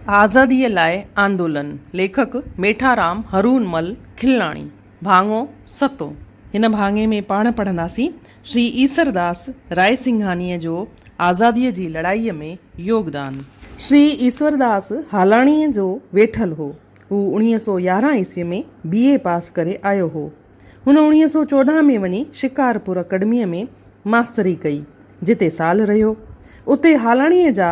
آزاديء لاء آندولن، ليکڪ، ميٺارام هرون مل کلڻاڻي، ڀاڱو ستون. هن ڀاڱي ۾ پاڻ پڙهنداسين شري ايسورداس رائسنگهانيء جو آزاديء جي لڙائيء ۾ يوگدان. شري ايسورداس هالاڻيء جو ويٺل هو. هو اوڻيهه سؤ يارهن عيسويء ۾ بي. اي پاس ڪري آيو هو. هن اوڻيهه سؤ چوڏهن ۾ وڃي شڪارپور اڪيڊميء ۾ ماستري ڪئي، جتي سال رهيو. اتي هالاڻيء جا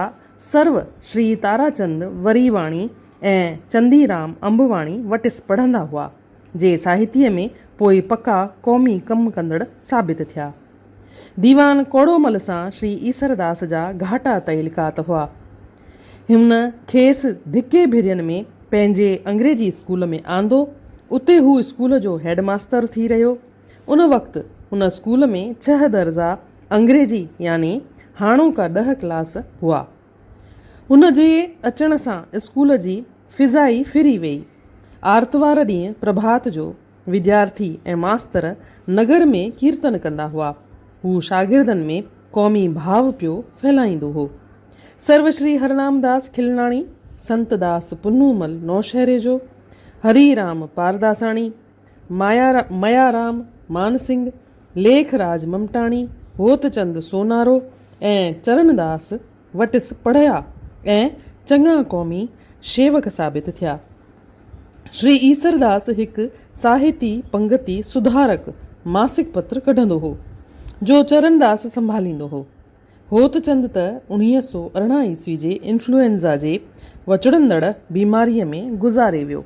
سرو شري تاراچند وريواڻي ۽ چنديرام انبواڻي وٽس پڙهندا هئا، جي ساهتيه ۾ پوء پڪا قومي ڪم ڪندڙ ثابت ٿيا. ديوان ڪوڙومل سان شري ايسرداس جا گهاٽا تعلقات هئا. هن کيس ڌڪي ڀرين ۾ پنهنجي انگريزي اسڪول ۾ آندو، اتي هو اسڪول جو هيڊ ماستر ٿي رهيو. ان وقت هن اسڪول ۾ ڇهه درجا انگريزي يعني هاڻوڪا ڏهه ڪلاس هئا. هن جي اچڻ سان اسڪول جي فضا ئي ڦري ويئي. آرتوار ڏينهن پرڀات جو وديارٿي ۽ ماستر نگر ۾ ڪيرتن ڪندا هئا. هو شاگردن ۾ قومي ڀاء پيو ڦهلائيندو هو. سرو شري هرنام داس کلناڻي، سنت داس پنهونمل نوشهري جو، هري رام پارداساڻي، ميارام مانسنگهه، ليک راج ممٽاڻي، هوتچند سونارو ۽ چرڻداس وٽس پڙهيا ۽ چڱا قومي شيوڪ ثابت ٿيا. شري ايسرداس هڪ ساهتي پنگتي سڌارڪ ماسڪ پتر ڪڍندو هو، جو چرڻداس سنڀاليندو هو. هوتچند ته اڻويهه سؤ ارڙهن عيسوي جي انفلوئنزا جي وچڙندڙ بيماريء ۾ گذاري ويو،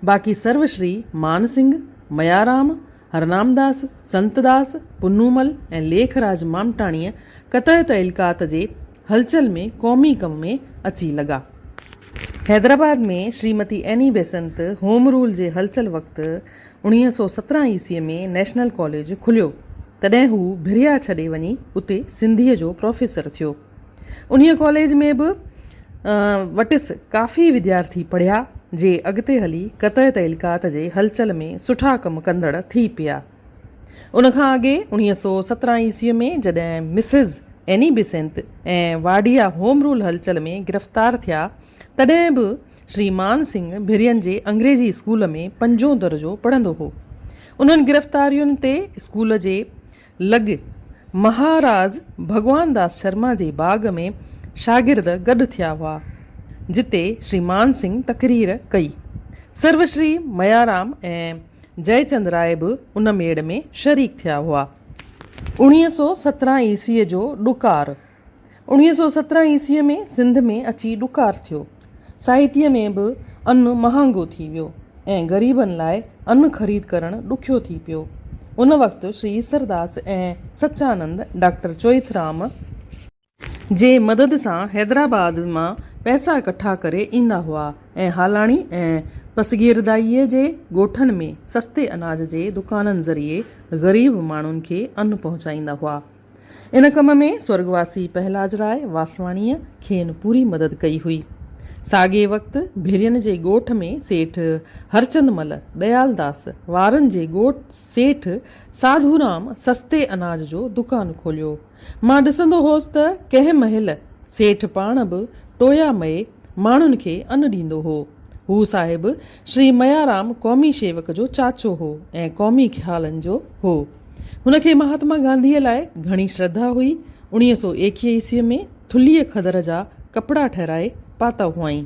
باقي سرو شري، مان سنگهه، ميارام، هرنامداس، سنتداس، پنومل ۽ ليک راج مامٽاڻيء قطع تعلقات جي هلچل ۾ قومي ڪم ۾ اچي لڳا. Hyderabad ۾ Shrimati Annie Besant home rule جي هلچل وقت، اڻويهه سؤ سترهن عيسويء ۾ نيشنل ڪاليج کليو، تڏهن هو ڀريا ڇڏي وڃي اتي سنڌيء جو پروفيسر ٿيو. انهيء ڪاليج ۾ به وٽس ڪافي وديارٿي پڙهيا، جي اڳتي هلي قطع تعلقات جي هلچل ۾ سٺا ڪم ڪندڙ ٿي پيا. ان کان اڳي اڻويهه سؤ سترهن عيسويء ۾ جڏهن Mrs Annie Besant ۽ Wadia home rule هلچل ۾ گرفتار ٿيا، تڏهن به شري مان سنگهه ڀرين جي انگريزي اسڪول ۾ پنجون درجو پڙهندو هو. انهن گرفتارين تي اسڪول جي لڳ مهاراز ڀڳوان داس شرما جي باغ ۾ شاگرد گڏ ٿيا هئا، جتي شري مان سنگهه تقرير ڪئي. سرو شري ميارام ۽ جئه چند راء به ان ميڙ ۾ شريڪ ٿيا هئا. اوڻيهه سؤ سترهن عيسويء جو ڏڪار اڻويهه سؤ سترهن عيسويء ۾ سنڌ ۾ اچي ڏڪار ٿيو. سائتيء ۾ به ان مهانگو ٿي ويو ۽ غريبن لاء ان خريد ڪرڻ ڏکيو ٿي پيو. ان وقت شري ايسرداس ۽ سچانند ڊاڪٽر چوئٿرام، جي مدد سان حيدرآباد مان پئسا ڪٺا ڪري ايندا هئا ۽ هالاڻي ۽ پسگيردائيء جي ڳوٺن ۾ سستي اناج جي دڪانن ذريعي غريب ماڻهن کي ان پهچائيندا هئا. ان ڪم ۾ سورڳواسي پهلاجراء واسواڻيء کين پوري مدد ڪئي هئي. ساڳئي وقت ڀيرين جي ڳوٺ ۾ سيٺ هرچند مل، ڏيالداس، وارن جي ڳوٺ سيٺ ساڌورام سستي اناج جو دڪان کوليو. مان ڏسندو هوس ته ڪنهن مهل سيٺ پاڻ به ٽويا مئي ماڻهن کي ان ڏيندو هو. هو صاحب شري ميارام قومي شيوڪ جو چاچو هو ۽ قومي خيالن جو هو. هن کي مهاتما گانڌيء لاء گهڻي شرڌا هئي. اڻيهه سؤ ايڪيهه عيسويء ۾ ٿلهيء کدر جا ڪپڙا ٺهرائي پاتا هئائين.